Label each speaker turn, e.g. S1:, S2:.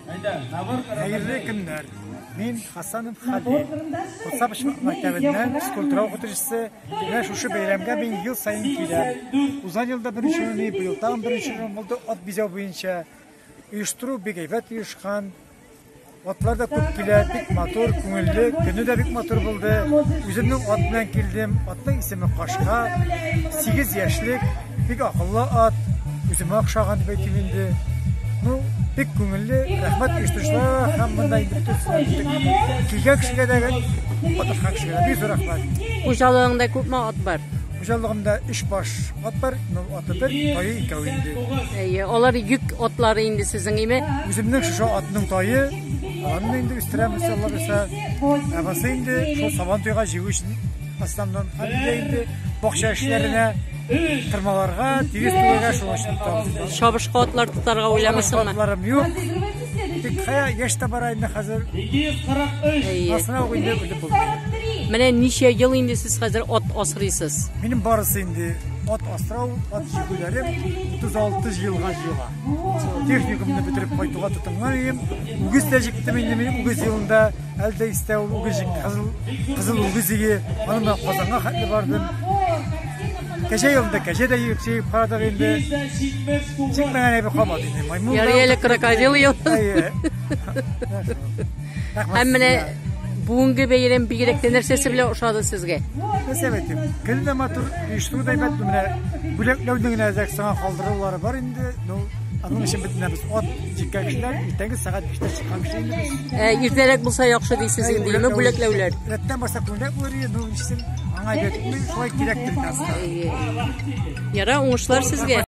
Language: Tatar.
S1: Хәерле көннәр. Мин Хасанов Хәбир. Кутса почмак мәктәбеннән физкультура укытучысы. Менә шушы бәйрәмгә мин ел саен киләм. Узган елда беренче урын, быел тагын беренче урын булды ат бизәү буенча. Оештыру бик әйбәт оешкан. Атлар да күп килә, бик матур, күңелле, көне дә бик матур булды. Үземнең ат белән килдем. Атның исеме Кашка. 8 яшьлек. Бик акыллы ат, үземә охшаган дип әйтим инде. Ну, бик күңелле, рәхмәт оештыручыларга һәм монда инде бөтен килгән кешегә дә катнашкан кешегә дә бик зур рәхмәт. Хуҗалыгыңда
S2: күпме ат бар? Хуҗалыгымда өч
S1: баш ат бар, ну, аты бер, тайы икәү инде. Әйе, алар йөк
S2: атлары инде сезнең име? Үземнең шушы
S1: атның тайы, аны инде үстерәм, иншалла, ә басы инде шул сабан туйга җигү өчен Астаннан әбидә инде бакча эшләренә тырмаларга, тигез түгәргә шуңа өчен тотабыз. Чабышкы атлар тотарга
S2: уйламыйсыңмы? Атларым юк.
S1: Тик кая яшь тә бара инде хәзер. 243. Асрау инде үлеп булмый. Менә ничә
S2: ел инде сез хәзер ат асрыйсыз? Минем барысы
S1: инде ат асрау, ат җигүләрем 36 елга җыела. Техникумны бетереп кайтуга тотынган идем. Үгез тә җиктем инде мин үгез елында. Әлдә истә ул үгез җигде, кызыл, кызыл үгез иге. Аны мен Казанга хәтле бардым. Кәҗә юлында кәҗә дә йөк сөйіп карадык инде. Тик менә әйбер калмады инде. Маймун. Ярый әле крокодил
S2: ел. Һәм менә бүгенге бәйрәм бигрәк тә нәрсәсе белән ошады сезгә? Нәрсә әйтим?
S1: Көн дә матур, оештыру да әйбәт менә. Бүләкләүнең генә әзәк саңа калдырулары бар инде. Ну, аның өчен бит менә без ат җиккән кешеләр иртәнге сәгать 5-тә Ә, иртәрәк булса яхшы
S2: дисез инде, яме бүләкләүләр. Рәттән баса күнрәк
S1: булыр иде, ну, ишсен, аңа әйтәтме,
S2: шулай кирәк
S1: бит, Яра,
S2: уңышлар
S1: сезгә.